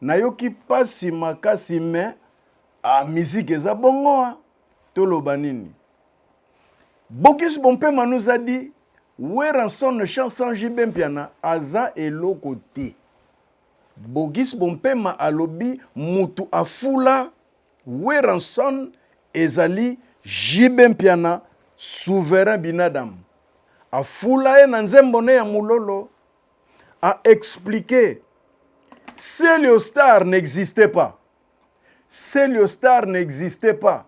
Nayoki pasi makasi mais ah musique eza bongo hein toloba nini Bocuse Bompema nous a dit Werrason ne chante sans JB Mpiana aza eloko te Bogis Bompema alobi mutu afula Werrason ezali JB Mpiana souverain binadam afula ye na nzembo ne ya mulolo a expliquer Celio Star n'existait pas. Celio Star n'existait pas.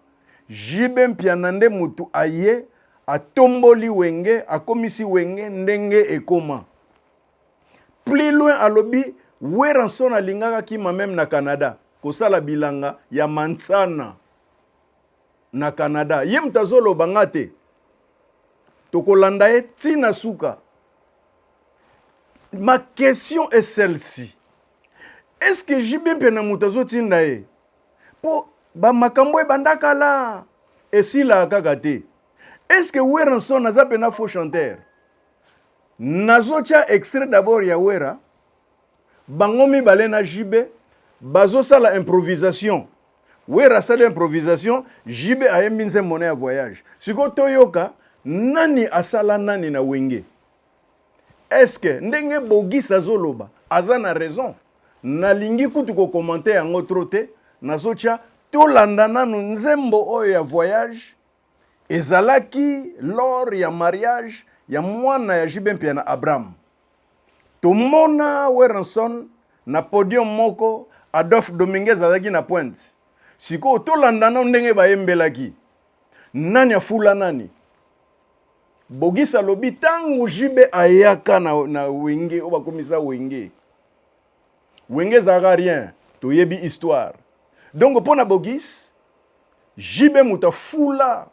JB Mpiana nde mutu aye atomboli wenge akomisi wenge ndenge ekoma. Plus loin alobi Weranson alingaka kima meme na Canada kosala bilanga ya mansana na Canada. Ye mutu azoloba nga te. Tokolanda ye ti na suka. ma question est celle-ci est ce que jb mpe na moto azotinda ye mpo bamakambo ebanda kala esilaka kaka te est ce que weranson aza mpena faux chanteur nazotya extrait d'abord ya wera bango mibale na jb bazosala improvisation wera asali improvisation jb ayembi nzembo na ya voyage sikoyo toyoka nani asala nani na wenge eske ndenge bogis azoloba aza na raison nalingi kutu kokomante yango tro te nazotya tolanda nanu nzembo oyo ya voyage ezalaki lor ya mariage ya mwana ya jibe mpia na abraham tomona werenson na podium moko adolphe dominguez azalaki na pointe sikoyo tolanda nano ndenge bayembelaki Nani afula nani? Bogisa alobi ntango JB ayaka na, na wenge oyo bakomisa wenge wenge ezalaka rien toyebi histoire donc mpo na bogis JB moto afula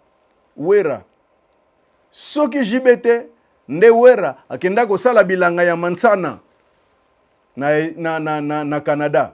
wera soki JB te nde wera akenda kosala bilanga ya mansana na, na, na, na, na canada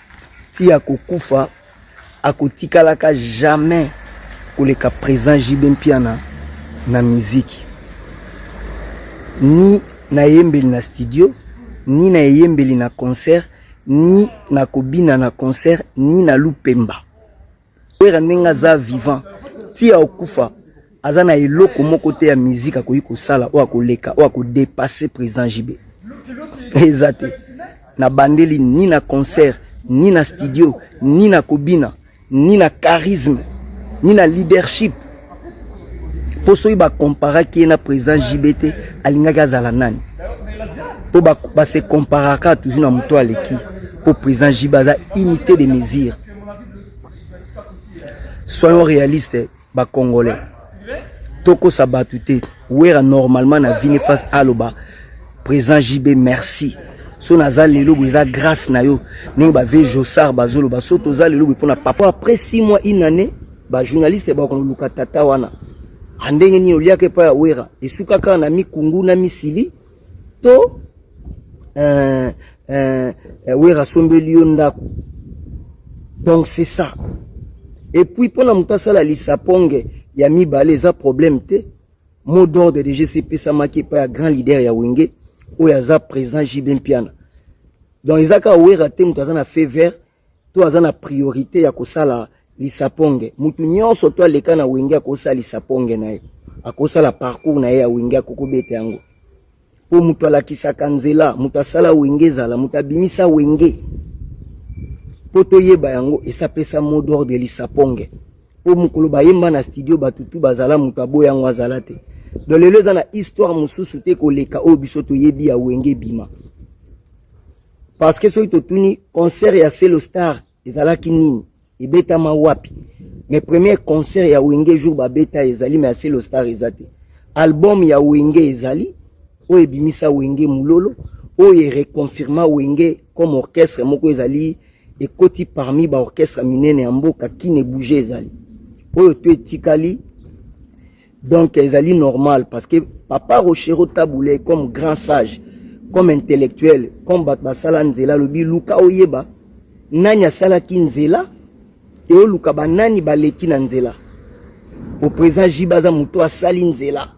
ti akokufa akotikalaka jamais koleka président JB Mpiana na miziki ni na eyembeli na studio ni na eyembeli na concert ni na kobina na concert ni na lupemba Werra ndenge aza vivant ti akokufa aza na eloko moko te ya musique akoki kosala oyo akoleka oyo akodepasse président JB eza te na bandeli ni na concert ni na studio ni na kobina ni na charisme ni na leadership mpo soki bakomparaki ye na président JB te alingaki azala nani mpo base komparaka toujours na moto aleki mpo président JB aza unité de mesure soyons réaliste ba congolais tokosa bato te wera normalement na vini face aloba président jb merci so naza lelo boye eza grâce na yo ndenge bave josar bazoloba so toza lelo boye mpona papa après six mois une année bajournaliste bakoluka tata wana andenge nini oliaka epai ya wera esuka kaka na mikungu na misili to euh, euh, euh, wera asombeli yo ndako donc c'est ça et puis mpo na moto asala lisaponge ya mibale eza problème te mot d'ordre de jc epesamaki epai ya grand leader ya wenge oyo aza président jb mpiana donc eza kaka wera te moto aza na fait vert to aza na priorite ya kosala lisaponge mutu nyonso to aleka na wenge akosala lisaponge na ye akosala parcours na ye ya wenge akokobeta yango mpo moto alakisaka nzela moto asala wenge ezala moto abimisa wenge mpo toyeba yango esapesa mot d'ordre lisaponge mpo mokolo bayemba na studio bato tu bazala moto aboya yango azala te don lelo eza na histoire mosusu te koleka oyo biso toyebi ya wenge ebima parce que soki totuni concert ya Celo Star ezalaki nini ebetama wapi mais premier concert ya wenge jour babeta ezali mais ya Celo Star eza te album ya wenge ezali oyo ebimisa wenge mulolo oyo ereconfirma wenge comme orchestre moko ezali ekoti parmi baorchestre minene ya mboka kine bouge ezali oyo to etikali Donc ezali normal parce que papa Rochero Taboulé comme grand sage, comme intellectuel, comme bato basala nzela lobi luka oyeba nani asalaki nzela e oluka banani baleki na nzela po président jiba aza moto asali nzela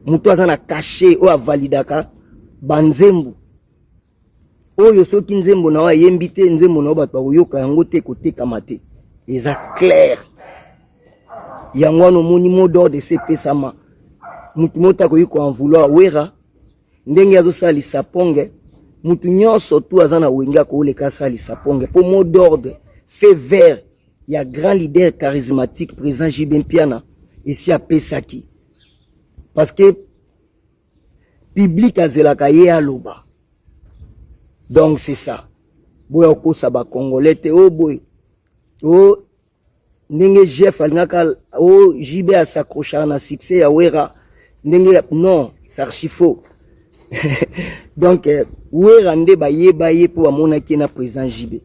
moto aza na kashe oyo avalidaka banzembo oyo soki nzembo na yo ayembi te nzembo na yo bato bakoyoka yango te kotekama te eza claire yango wana omoni mot d'ordre esepesama motu moko akoki koenvouloir wera ndenge azosala lisaponge motu nyonso tu aza na wenge akooleka asala lisaponge mpo mot d'ordre fait vert ya grand leader charismatique président jb mpiana esi apesaki parce que public azelaka ye aloba donc c'est ça boya kokosa bacongolais te o oh boye o oh, ndenge jef alingaka o oh, jb asacrochaka na succès ya wera ndenge non sarchi faux donc eh, wera nde bayeba ye mpo bamonaki ye na président jb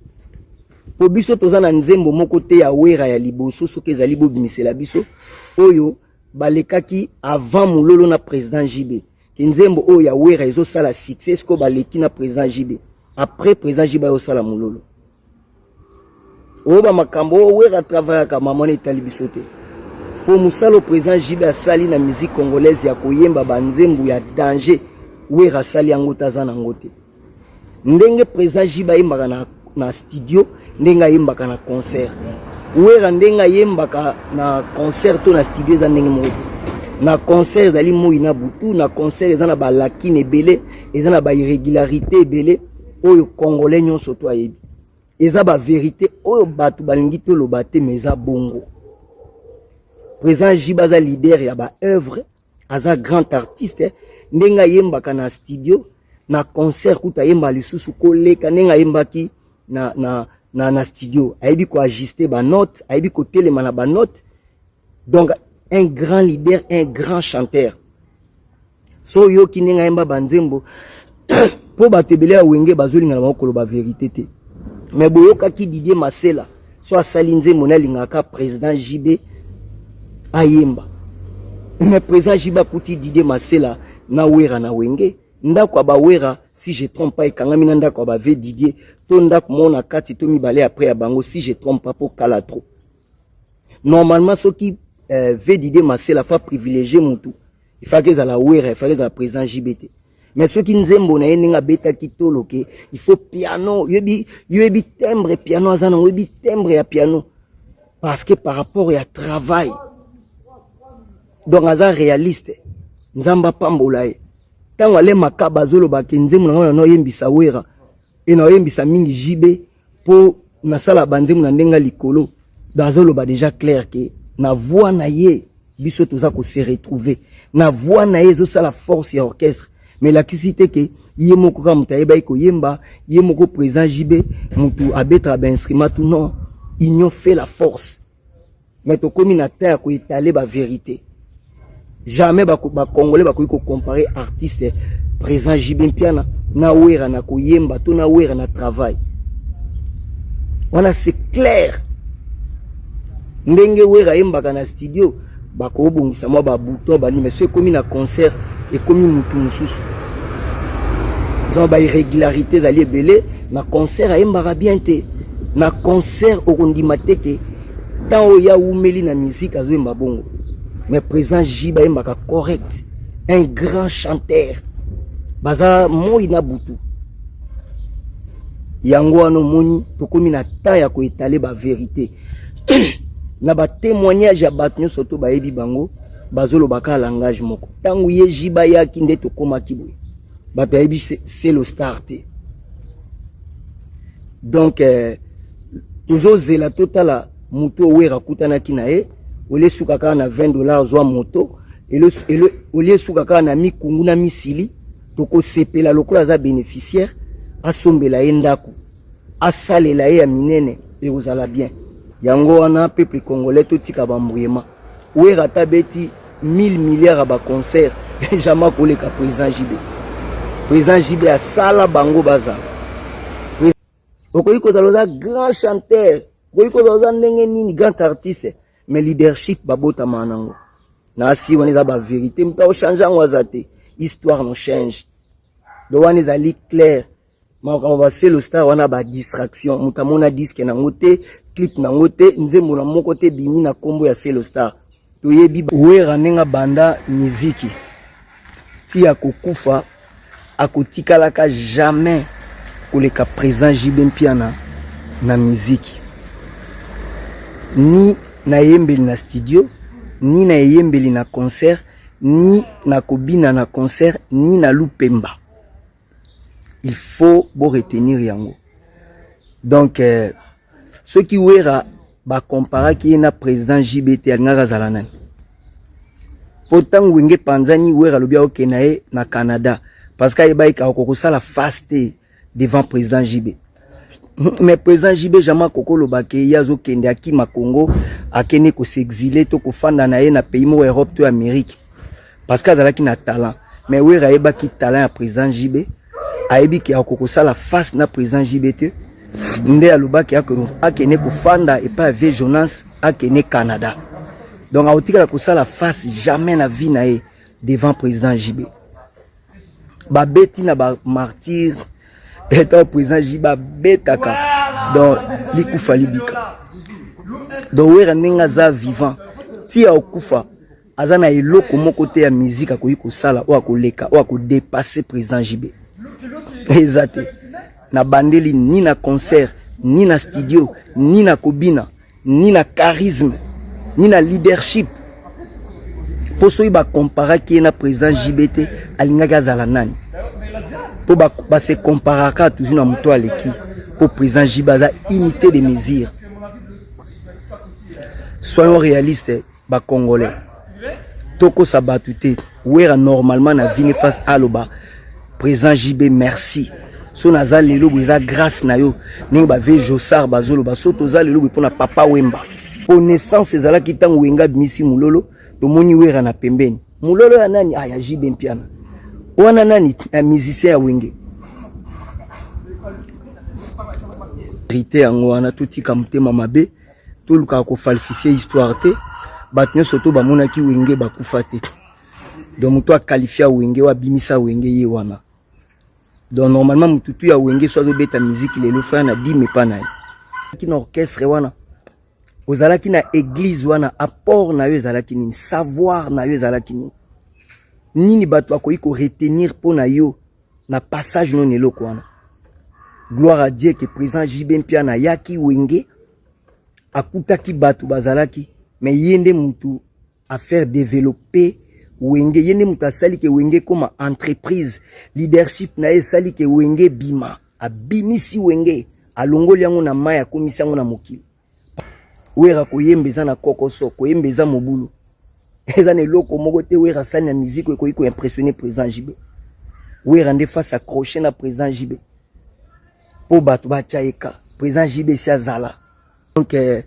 mpo biso toza na nzembo moko te ya wera ya liboso soki ezali bobimisela biso oyo oh, balekaki avant mulolo na président JB kinzembo oyo ya wera ezosala succès sikoyo baleki na président JB après président JB ayosala mulolo oyo bamakambo oyo wera atravayaka mamona etali biso te mpo mosala oyo président JB asali na musique congolaise ya koyemba banzembo ya danger wera asali yango te aza na yango te ndenge président J bayembaka na, na studio ndenge ayembaka na concert wera ndenge ayembaka na concert to na studio eza ndenge moko te na concert ezali moi na butu na concert eza na balakine ebele eza na bairrégularité ebele oyo congolais nyonso to ayebi eza baverité oyo bato balingi toloba te ma eza bongo président jiba aza leader ya baœuvre aza grand artiste ndenge ayembaka na studio na concert kutu ayemba lisusu koleka ndenge ayembaki na, na, na, na studio ayebi koajuste banote ayebi kotelema na banote donc un grand leader un grand chanteur so oyoki ndenge ayemba banzembo mpo bato ebele ya wenge bazolingana bango koloba verite te me boyokaki didie masela so asali nzembo ne alingaka président jb ayemba me président jb akuti didie masela na wera na wenge ndako ya bawera si je trompe pas ekangami na ndako ya bave didie to ndako moko na kati to mibale ya pre ya bango si je trompe pas mpo kala trop normalement soki euh, vedide masela fa privilégié mutu ifaki ezala wera ifaki ezala président jb te mais soki nzembo na ye ndenge abetaki tolo ke il faut piano yoyebi yoyebi timbre piano aza nango yoyebi timbre ya piano parce que par rapport ya travail donc aza réaliste nzambe apambola ye ntango ale makaba azolobaki nzembo na ngai na naoyembisa wera e naoyembisa mingi jb Po nasala banzembo na ndenga likolo bazoloba deja clair ke na voix na ye biso toza ko se retrouver na voix na ye ezosala force ya orchestre mais elakisi te ke ye moko kaka moto ayebaki koyemba ye moko président jb motu abetaka bainstrument tout non union fait la force mais tokomi na temps ya koetale baverité jamais bacongolais ba bakoki kocompare artiste présent jb mpiana na wera na koyemba to na wera na travail wana c'est clair ndenge wera ayembaka na studio bakobongisa mwa babuto bani mais so ekomi na concert ekomi mutu mosusu donc bairrégularité ezali ebele na concert ayembaka bien te na concert okondima te ke ntango oyo ye awumeli na miziki azoyemba bongo mais président j bayembaka correct un grand chanteur baza moi na butu yango wana omoni tokómi na temps ya koetale baverité na ba témoignage ya bato nyonso to bayebi bango bazoloba kaka langage moko ntango ye ji bayaki nde tokomaki boye bato bayebi selo star te donc eh, tozozela totala moto owera akutanaki na ye olie esuka kaka na 20 dollar zwa moto olie esuka kaka na mikungu na misili tokosepela lokola aza bénéficiaire asombela ye ndako asalela ye ya minene ekozala bien yango wana peuple congolais totika bambuyema wera ata beti 1000 milliards ya baconcert jamais akoleka président jb président jb asala bango bazala okoki kozala oza grand chanteur okoki kozala oza ndenge nini grand artiste mais leadership babotama nango na asi wana eza baverité moto aochange yango aza te histoire no change do wana ezali claire makambo baselo star wana ba distraction moto amona diske nango te clip nango te nzembo na moko te bimi na nkombo ya selo star toyebi wera ndenge abanda miziki ti akokufa akotikalaka jamais koleka présent jb mpiana na miziki ni na eyembeli na studio ni na eyembeli na concert ni na kobina na concert ni na lupemba il faut bo retenir yango donc euh, soki wera bacomparaki ye na président jbt alingaki azala nani mpo ntango wenge epanzani wera alobi aoke na ye na canada parce que ayebaki kakokosala face te devant président jb mais président JB Jama Koko Lobake ye azokende akima Congo akende kosexile to kofanda na ye na pays moko Europe to Amérique parce que azalaki na talent mais Wera ayebaki talent ya président JB ayebi ke akokosala face na président JB te nde alobaki akende kofanda epai ya vie Jonas akende Canada donc akotikala kosala face jamais na vie na ye devant président JB babeti na ba martyr etant président ji babetaka donc likufa libika donc wera ndenge aza vivant ti akokufa aza na eloko moko te ya miziki akoki kosala oyo akoleka oyo akodepasse président jb eza te nabandeli ni na concert ni na studio ni na kobina ni na charisme ni na leadership mpo soki bacomparaki ye na président JB te alingaki azala nani mpo base ba comparaka toujours na moto aleki mpo président JB aza unité de mesure soyons réaliste ba congolais tokosa bato te wera normalement na vini face aloba président jb merci so naza lelo boye eza grâce na yo ndenge bave josar bazoloba so toza lelo boye mpo na papa wemba mpo naissance ezalaki ntango wenga abimisi mololo tomoni wera na pembeni mololo ya nani ah, ya jb mpiana wana nani ya musicien ya wenge rite yango wana totika motema mabe tolukaka kofalifie histoire te bato nyonso to bamonaki wenge bakufa te donc moto akalifia wenge oyo abimisa wenge ye wana donc normalement motu tu ya wenge so azobeta miziki lelo faya na dime epa na ye na orchestre wana ozalaki na eglise wana apport na yo ezalaki nini savoir na yo ezalaki nini nini bato bakoki koretenir mpo na yo na passage no na eloko wana gloire à dieu que président jb mpiana ayaki wenge akutaki bato bazalaki me ye nde motu afaire développer wenge ye nde moto asali ke wenge ekoma entreprise leadership na ye esali ke wenge ebima abimisi wenge alongoli yango na mai akomisi yango na mokili Wera koyemba eza na kokoso, koyemba eza mobulu. Eza na eloko moko te Wera asali na musique ekoki ko impressionner président JB. Wera nde face accroché na président JB. Po bato batya ye ka. Président JB si azala. Donc euh,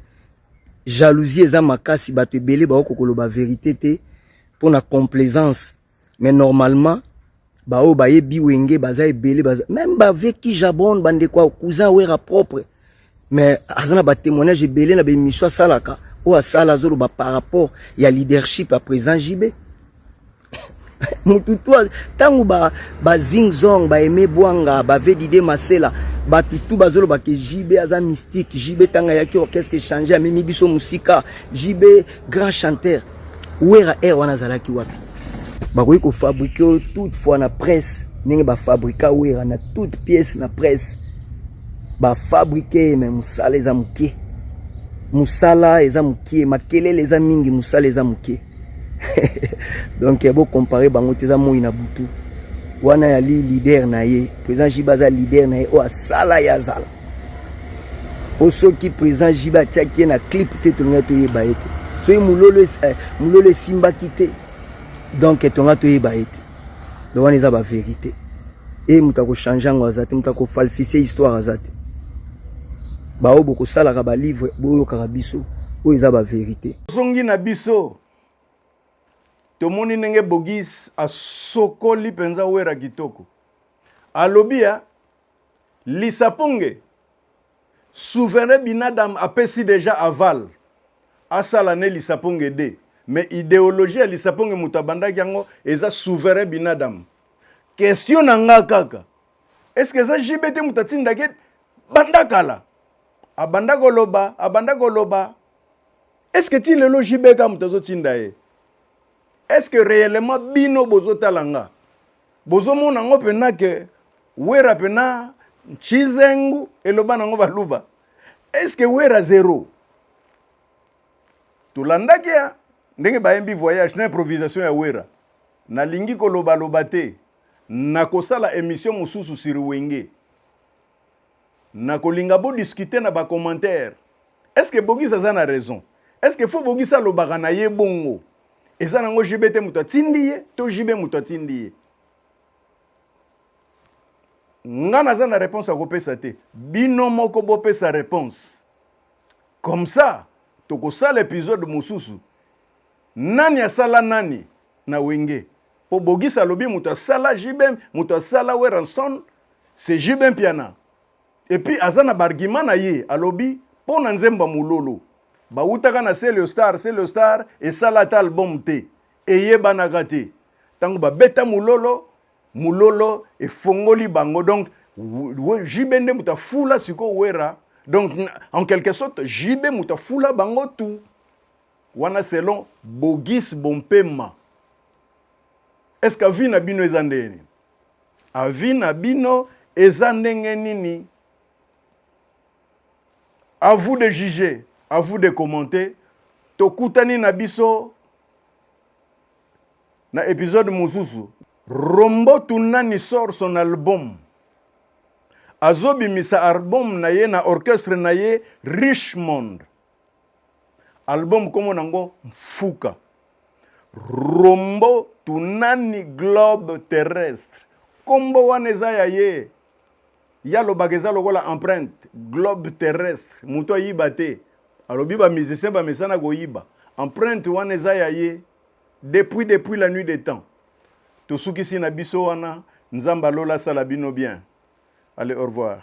jalousie eza makasi bato ebele baoko koloba verité te mpo na complaisance mais normalement baoyo bayebi wenge baza ebele baza meme bavie kijabon bandeko ya cousin wera propre mais aza na batémoignage ebele na bemission asalaka oyo asala azoloba par rapport ya leadership ya président jb mutu tu ntango bazingzong ba baeme bwanga bavedide masela bato tu bazoloba ke jb aza mystique jb ntango ayaki orchestre echange amemi biso mosika jb Grand chanteur Wera air wana azalaki wapi? Bakoki ko fabriquer toute fois na presse ndenge ba fabrika Wera na toute pièce na presse ba fabriquer mais musala eza mukie. Musala eza mukie, makelele eza mingi, musala eza mukie. Donc bo comparer bango te eza moyi na butu. Wana yali leader na ye, président Jiba aza leader na ye oyo asala ye azala. po soki président JB atiaki ye na clip te tolingai toyeba ye te soki mololo eh, mololo esimbaki te donc tonga toyeba ye te donc wana eza baverité e moto akochange yango aza te moto akofalfise histoire aza te baoyo bokosalaka balivre boyokaka biso oyo eza baverité ozongi na biso tomoni ndenge bogis asokoli mpenza wera kitoko alobi ya Lisa ponge souverain binadam apesi deja aval asala ne lisa ponge de mais ideologie ya lisa ponge moto abandaki yango eza souverain binadam question na nga kaka est ce que eza jb te moto atindaki banda kala abanda koloba abanda koloba est ce que ti lelo jb ka moto azotinda ye est ce que réellement bino bozotala nga Bozo mona ngo pena ke Wera pena Nchizengu eloba nango baluba. Est-ce que Wera zero? Tolandaki ya ndenge bayembi voyage na improvisation ya Wera. Nalingi koloba loba te. Nakosala emission mosusu sur Wenge. Nako linga bo discuter na ba commentaire est ce que Bogus aza na raison? Est ce que faut Bogus alobaka na ye bongo? Eza na ngo JB te moto atindi ye to JB moto atindi ye? Nga naza na reponse ya kopesa te, bino moko bopesa reponse comme ça tokosala episode mosusu Nani asala nani na wenge? Po Bogisa alobi moto asala JBM, moto asala Werrason c'est JBM Mpiana. Et puis aza na bargument na ye, alobi po na nzembo ya Mulolo. Bawutaka na Celio Star, Celio Star esala ata album te. Eyebanaka te. Tango babeta Mulolo, Mulolo efongoli bango. Donc JB nde moto afula sikoyo Werra. Donc en quelque sorte JB moto afula bango tout. Wana selon Bogus Bompema. Est-ce que avis na bino eza ndenge nini? Avis na bino eza ndenge nini? À vous de juger, à vous de commenter. Tokutani na biso na episode mosusu. Rombo Tunani sort son album. Azobimisa album na ye na orchestre na ye Richmond. Album kombo nango Mfuka. Rombo tunani globe terrestre. Kombo wana eza ya ye. Ya lobaka eza lokola empreinte globe terrestre. Moto ayiba te. Alobi ba musiciens ba mesana koyiba. Empreinte wana eza ya ye. Depuis depuis la nuit des temps. Tosukisi na biso wana. Nzambe alola sala bino bien. Allez, au revoir.